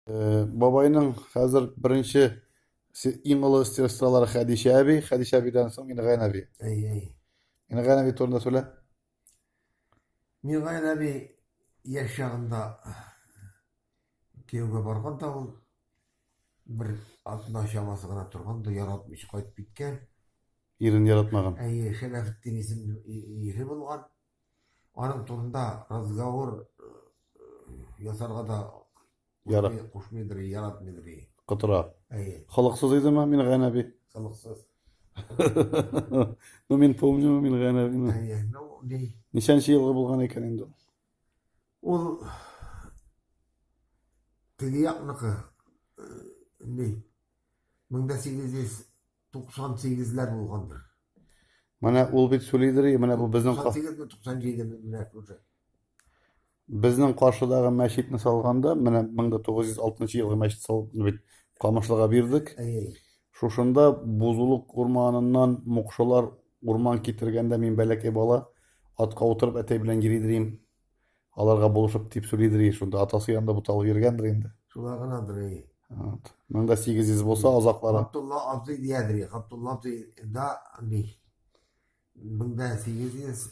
Бабайның хәзер беренче иң олы сестралары Хәдичә әби, Хәдичә әбидән соң Мингән әби. Әй, әй. Мингән әби турында сөйлә. Мингән әби яшь чагында кияүгә барган да ул бер атна чамасы гына торган да яратмыйча кайтып киткән. Ирен яратмаган. Әйе, Шәмәхетдин исемле ире булган. Аның турында разговор ясарга да Ярат. кушмыйдыр, яратмыйдыр. Кытыра. Әйе. Халыксыз идеме мин гәнәби? Халыксыз. Ну мин помню мин гәнәбине. Әйе. Ну, ди. Ничәнче елгы булган икән инде? Ул теге якныкы, ди. 1800 98 ләр булгандыр. Менә ул бит сүлидер, и менә бу безнең 98 ме 97 ме менә күрсә. Безнең каршыдагы мәчетне салганда, менә 1960 елгы мәчет салып бит Камышлыга бирдек. Шушында бузулык урманыннан мукшылар урман китергәндә мин бәләкәй бала атка утырып әтәй белән йөри дим. Аларга булышып дип сөйлидер и шунда атасы янында буталып йөргәндер инде. Шулай гынадыр и. Вот. Мең дә сигез йөз булса азаклары. Габдулла абзый диядер и. Габдулла абзый да ни. Мең дә сигез йөз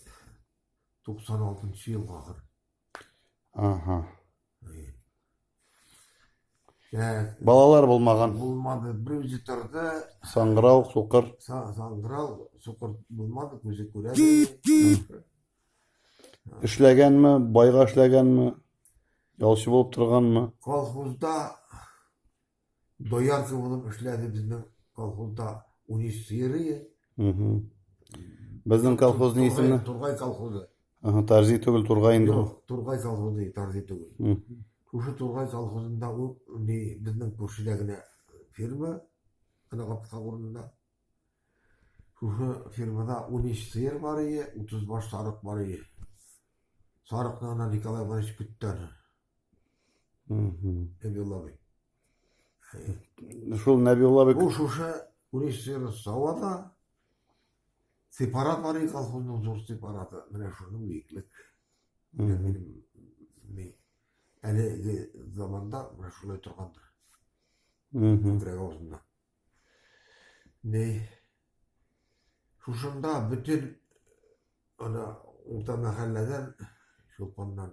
туксан алтынчы ел ахыр. Ага. Балалар булмаган. Булмады. Бер үзе торды. Саңгырау, сукыр. Саңгырау, сукыр булмады, күзе күрә. Эшләгәнме, байга эшләгәнме? Ялчы булып торганмы? Колхозда Дояр кебек эшләде безнең колхозда унөч сыеры. Безнең колхозның исеме? Тургай колхозы. Ага, Тарзи түгел, Тургай инде. Юк, Тургай колхозы, Тарзи түгел. Шушы Тургай колхозында ул безнең күршедә генә фирма, ана капка урынында. Шушы фирмада 13 сыер бар ие, 30 баш сарык бар ие. Сарыкны ана Николай Иванович көттән. Нәбиуллабый. Шул Нәбиуллабый... Бу шушы Урисфера Савада сепарат бар колхозның зур сепараты. Менә шуның биеклек. Әлеге заманда менә шулай торгандыр. Күкрәк авызында. Ни шушында бөтен ана урта мәхәлләдән шулпаннан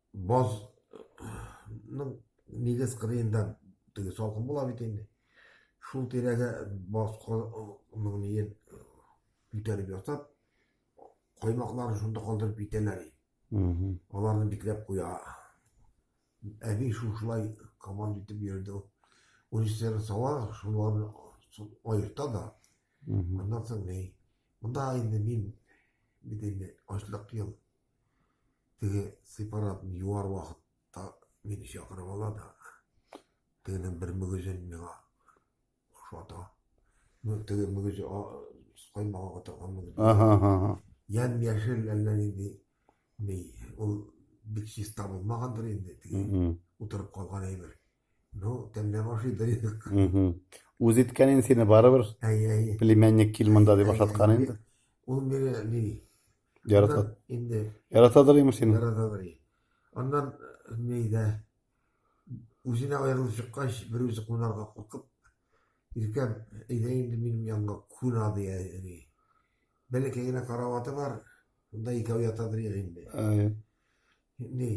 Базның нигез кырыенда теге салкын була бит инде. Шул тирәгә баз кырының ниен күтәреп ятып, коймакларын шунда калдырып китәләр. Аларны бикләп куя. Әби шушылай команда итеп йөрде. Урислер сала, шуларны аерта да. Аннан соң ни? Монда инде мин бит инде ачлык ел Теге сепаратны юар вакытта мине чакырып ала да, тегенең бер мөгезен миңа ошата. Теге мөгезе каймага катырган мөгез. Ага, ага. Ян яшел әллә нинди ми. Ул бик чиста булмагандыр инде, теге утырып калган әйбер. Ну, тәмләп ашыйдыр инде. Үз иткәнен сине барыбер. Әйе, әйе. Племянник кил монда дип ашаткан инде. Ул мире ни? Ярата. Инде. Яратадыр имеш сине. Яратадыр. Аннан нидә үзенә аерылып чыккач, бер үзе кунарга куркып, иркәм, әйдә инде минем янга куна дия. Бәләкәй генә караваты бар, шунда икәү ятадыр инде. Әйе. Ни?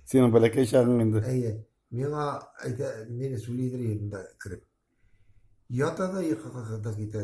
Синең бәләкәй чагың инде. Әйе. Миңа әйтә, мине сүлидер инде кереп. Ята да йокыга китә.